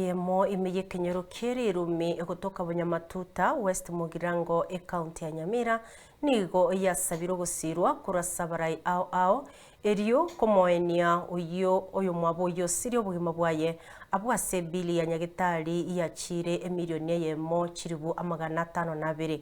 Eyemo ime y'ekenyoro kie rirumi egotoka Bonyamatuta West Mugirango ecounty ya Nyamira nigo yasabire ogosirwa korwa ase abarai ao ao erio komoenia oyio oyomwabo oyosirie obogima bwaye abwo ase ebili ya nyagetari yachiire emirioni eyemo chiribu amagana atano na abere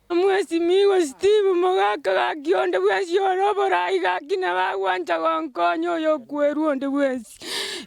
Omwesimigwa Steve, mogaka gaki onde bwensi ore oborai gaki nabagwancha gonkonya oyokwerwa onde bwensi.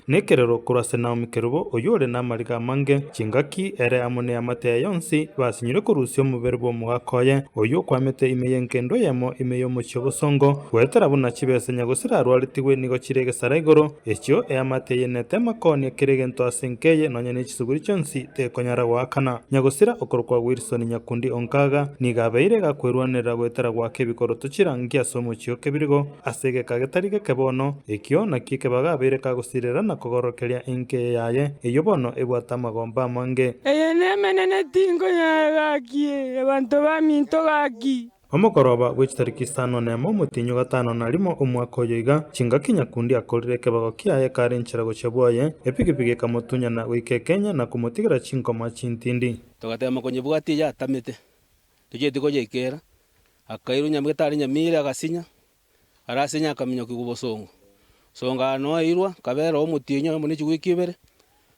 Nekerero korwa ase Naomi Kerubo oyore namariga amange, chingaki, ere amo neamate yaye yonsi, basinyire korusia omobere bw'omogaka oye, oyio okwamete ime y'enkendo eyemo, ime y'omochie obosongo, goetera buna chibesanya gose rarwaretigwe nigo chire egesara igoro, echio eamate eye netema koonia kera egento ase enka eye, nonya nechisuguri chionsi. Tekonyara goakana. Nyagosira okorokwa Wilson Nyakundi o Nkaga nigo abeire gakwerwanerera goetera goaka ebikoroto chirangi ase omochie o Kebirigo ase egeka getari geke bono. Ekio nakio ekebago abeire kagosirera na kogorokeria enka eye yaye, eyio bono ebwate amagomba amange. Eye nemenene tinkonyara gaki, abanto baminto gaki. Omogoroba bwe chitariki isano nemo omotienyi o gatano na rimo omwaka oyo iga, chingaki nyakundi akorire ekebago kiaye ekare enchera gochia bwoye, epigipigi ekamotunyana goika ekenya na komotigera chinkoma chintindi. Togatema konyebwatia yatamete, tochieti koyeikera. Akairwa nyamagete are nyamiri agasinya, are asinya akaminyokigwa obosongo. Songa ano airwa, kabera omotienyi oyomo ne chigwiki ibere,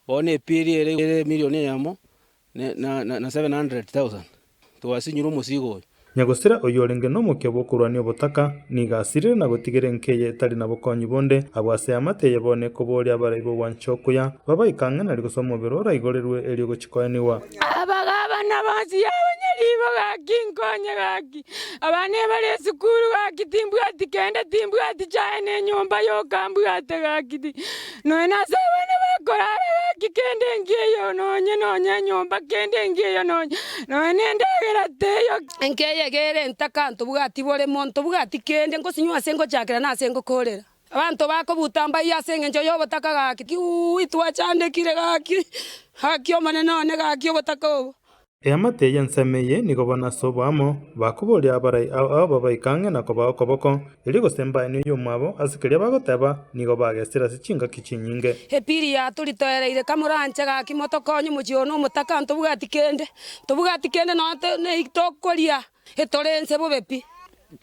bono epieri ere ere emirioni eyemo twasinyire omosiiga oyo. Nyagosira oyorenge nomokia bw'okorwania obotaka nigo asirire na gotigera enka eye etari na bokonyi bonde abwo ase eamate eye bono ekobooria abarai b'ogwancha okuya babaike ang'e na rigoso omobere oraigorerwe erio gochikoenigwa. Abagabana bonsi yabonye riibo gaki nkonye gaki. Abana ebare esukuru gaki timbwati kende timbwati chae ne nyomba yokambwate gaki. Nonya nase abana bakoraara gaki kende engiya eyo nonya, nonya enyomba kende engiya eyo nonya, nonya nendagera teiyo. Enka eye egere ntakanto bwati bore monto bwati kende ngosinywa ase ngochakera na ase ngokorera. Abanto bakobuta mbayio ase engencho y'obotaka gaki. Iuui twachandekire gaki, gaki Omonene one gaki obotaka obo. Eamate y'ensemo eye nigo bono ase oboamo bakoboria abarai ao ao babaike ang'e na kobaa okoboko, erio gose mbaenwe oyomwabo ase keria bagoteba, nigo bagesire ase chingaki chinyinge. Epiri yato ritoereire ka moranche gaki motokonye omochie one omotaka ntobwati kende ntobwati kende nonya to nei tokoria etore ense bobe pi.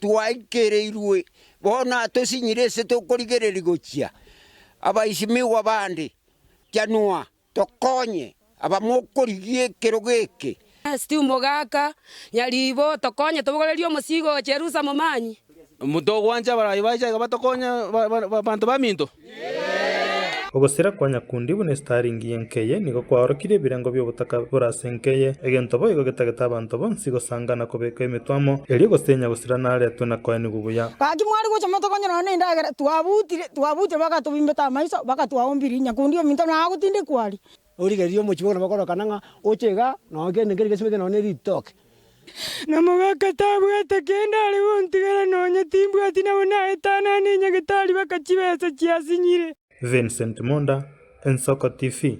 Twaikereirwe bono atosinyire ase tokorigereria gochia abaisi migwa bande. Janua. Tokonye abamokorigia ekerogo eke. Stew gaka, nyariibo, tokonye tobogorerie omosiigo o Cherusa momanyie. Togwancha abarai ba Isaka batokonye abanto baminto. Ogosira kwa nyakundi buna esitaringi y'enkeye nigo kwaorokirie ebirengo bi'obotaka bore ase enkeye, egento boigo getagete abanto bonsi gosanga na kobeka emetwe amo, erio gose nyagosira naretwe na koenigwa buya. Gaki mwari gocha motokonye nonya nendagera twabuti Twabuuterwe bagatobimbeta amaiso, bagatwaombiria. Nyakundi ominto nagotindekwa aria. Origereria omochie buna bakorokana ng'a oche iga, nonya kende nkeria gesibe kende nonya ne ritoke. Na mogaka tabwate kende are gontigera, nonya timbwati nabo naetanane enyagetari baka chibesa chiasinyire. Vincent Munda, Ensoko TV.